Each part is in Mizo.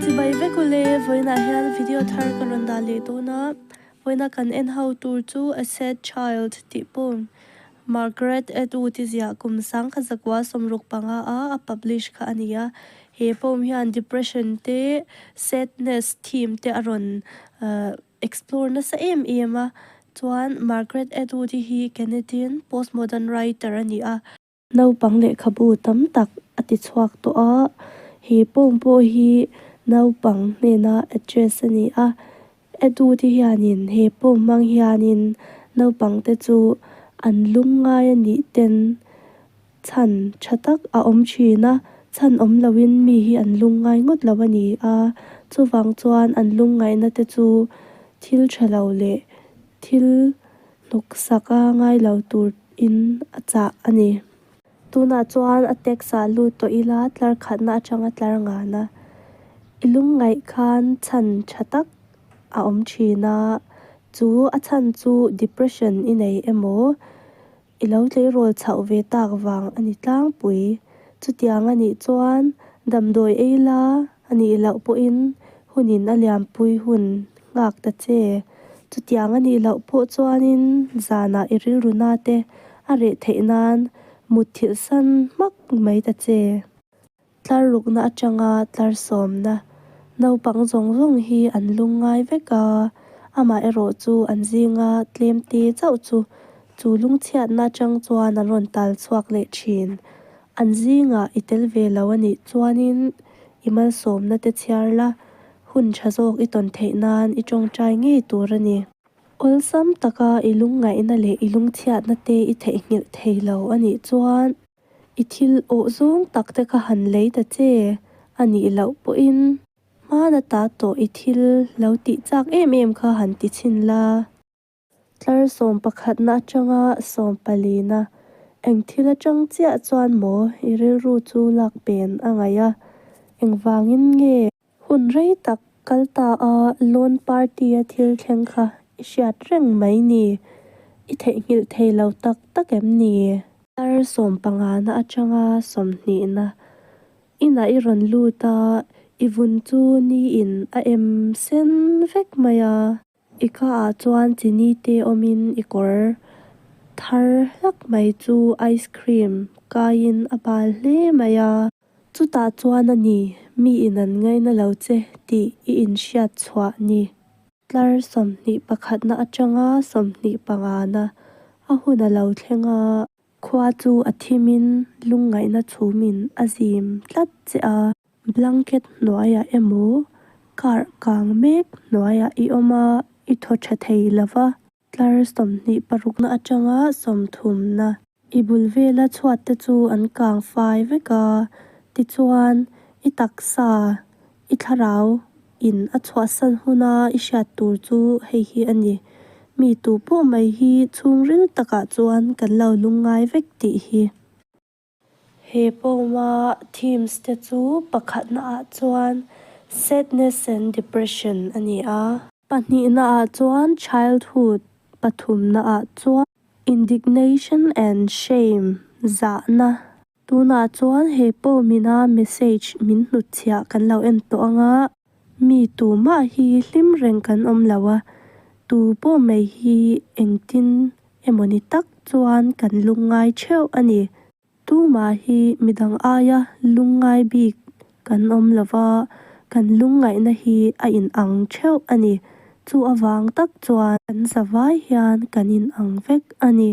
Chu bai vek u le, vawiinah hian video thar ka rawn dah leh dawn a, vawiina kan en ho tur chu a sad child tih pawn Margaret Atwood i ziah kum sang kha zakua sawmruk panga a a publish kha a ni a, he poem hian depression te sadness theme te a rawn explore nasa em em a, chuan Margaret Atwood hi Canadian postmodern writer a ni a. Naupang lehkhabu tam tak a ti chhuak tawh a, he form pawh hi naupang hnena address a ni a, Edu te hianin he form hmang hianin naupang te chu an lung ngai a nih ten chhan tha tak a awm thin a, chhan awm lo in mi hi an lung ngai ngawt lo a ni a, chuvang chuan an lung ngaihna te chu thil tha lo leh thil. Hnawksak a ngai lo tur in a chah a ni. Tunah chuan a text ah lut tawh ila tlar khatna atanga tlar ngan a. I lungngaih khan chhan tha tak a awm thin a, chu a chhan chu depression i nei emaw i lo tleirawl chauh ve tak vang a ni tlangpui. Chutiang a nih chuan damdawi ei la A nih loh pawhin hun in a lianpui hun nghak ta che. Chutiang a nih loh pawh chuanin zanah i rilru na te a reh theih nan mut thilh san hmak mai ta che. Tlar rukna atanga tlar sawmna. Naupang zawng zawng hi an lung ngai vek a, amah erawh chu an zinga tlem te chauh chu chu lungchhiatna atang chuan an rawn tal chhuak leh thin. An zingah i tel ve lo a nih chuanin i malsawmna te chhiar la, hun tha zawk i tawn theih nan i tawngtai ngei tur a ni. Awlsam taka i lungngaihna leh i lungchhiatna te i theihnghilh thei lo a nih chuan i thil awh zawng tak te kha han lei ta che a nih loh pawhin hmana ta tawh i thil lo tih chak em em kha han ti chhin la. Tlar sawm pakhatna atanga sawm palina eng thil atang chiah chuan maw i rilru chu lak pen a ngaih a, engvangin nge? Hun rei tak kal ta a Lawn Party-a thil thleng kha i hriat reng mai ni, i theihnghilh thei lo tak tak em ni? Tlar sawm panghana atanga sawmhnihna inah i rawn lut a, i vun chu ni in a em sen vek mai a. I caah chuan chini te awmin i kawr thar hlak mai chu ice cream kaiin a bal hle mai a. Chutah chuan a ni, mi in an ngaih na lo che tih i inhriat chhuah ni. Tlar sawmhnih pakhatna atanga sawmhnih pangana a hun a lo thleng a. Khua chu a thim in lungngaihna chhum in a zim tlat che a. Blanket hnuai ah emaw kar kang mek hnuai ah i awm a, i thaw tha thei lo va. Tlar sawmhnih parukna atang a sawmthumna. I bul vela chhuat te chu an kang fai vek a, tichuan i taksa I thlarau in a chhuahsan huna i hriat tur chu hei hi a ni, mi tu pawh mai hi chhungril takah chuan kan lo lung ngai vek tih hi. He poem-a themes te chu pakhatna ah chuan sadness and depression a ni a. Pahnihna ah chuan childhood, pathumna ah chuan indignation and shame, zahna. Tunah chuan he poem ina message min hnutchhiah kan lo en tawh ang a, mi tu mah hi hlim reng kan awm lo a, tu pawh mai hi engtin emawni tak chuan kan lung ngai theuh a ni. Tumah hi midang aia lung ngai bik kan awm lo va, kan lung ngaihna hi a in ang theuh a ni. Chu avang tak chuan kan zavai hian kan in ang vek a ni.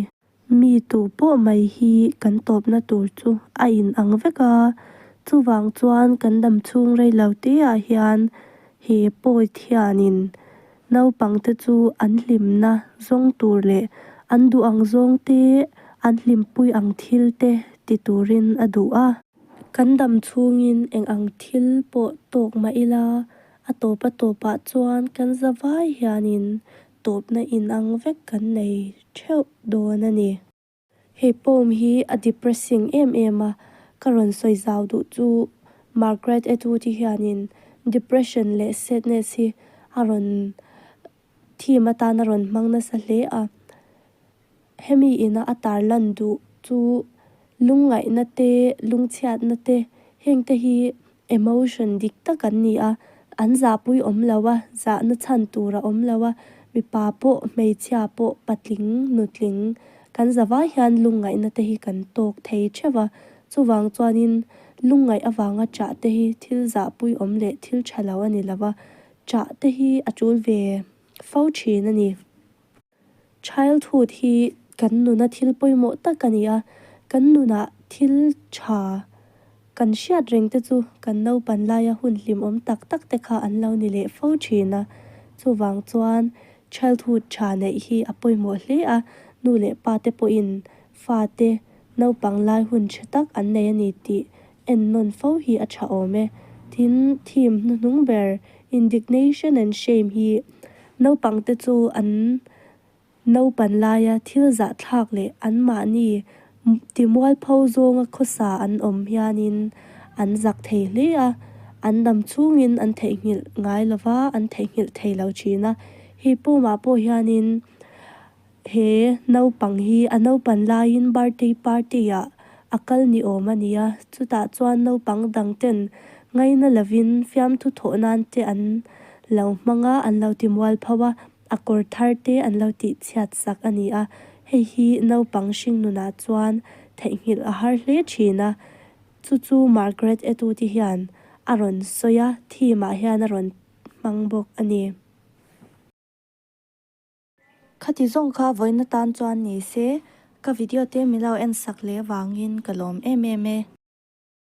Mi tu pawh mai hi kan tawpna tur chu a in ang vek a, chuvang chuan kan dam chhung rei lo teah hian he poet hianin naupang te chu an hlimna zawng tur leh an duh ang zawng te, an hlimpui ang thil te ti turin a duh a. Kan dam chhungin eng ang thil pawh tawk mah ila a tawpa tawpah chuan kan zavai hianin tawpna inang vek kan nei theuh dawn a ni. Hei poem hi a depressing em em a, ka rawn sawi zau duh chu Margaret Atwood hi hianin depression leh sadness hi a rawn theme atan a rawn hmang nasa hle a. Hemi ina a tar lan duh chu lungngaihna te lungchhiatna te heng te hi emotion dik tak an ni a, an zahpui awm lo a, zahna chhan tur a awm lo a, mipa pawh hmeichhia pawh patling nutling kan za vai hian lungngaihna te hi kan tawk thei theuh a, chuvang chuanin lungngaih avanga chah te hi thil zahpui awm leh thil tha lo a ni lo a, chah te hi a tul ve fo thin a ni. Childhood hi kan nuna thil pawimawh tak a ni a, kan nuna thil tha kan hriat reng te chu kan naupan laia hun hlimawm tak tak te kha an lo ni leh fo thin a, chuvang chuan childhood tha neih hi a pawimawh hle a, nu leh pa te pawhin fate naupang lai hun tha tak an nei a ni tih En nawn fo hi a tha awm e. Tin, theme hnuhnung ber indignation and shame hi naupangte chu an naupan laia thil zahthlak leh anmahni timual pho zawnga khawsa an awm hianin an zak thei hle a, an dam chungin an theihnghilh ngai lova, an theihnghilh thei lo thin a. Hei pawmah pawh hianin He naupang hi a naupan laiin birthday party ah a kal ni awm a nia. Chutah chuan naupang dang ten ngaina lovin fiamthu thawh nan te an lo hmang a, an lo ti mual pho a, a kawr thar te an lo tih chhiat sak a ni a. Hei hi naupang hringnunah chuan theihnghilh a har hle thin a. Chu chu Margaret Etu te hian a rawn sawi a, theme ah hian a rawn hmang bawk a ni. Khati zawng kha vawina tan chuan ni se, ka video te milo en sak leh vangin ka lawm em em e.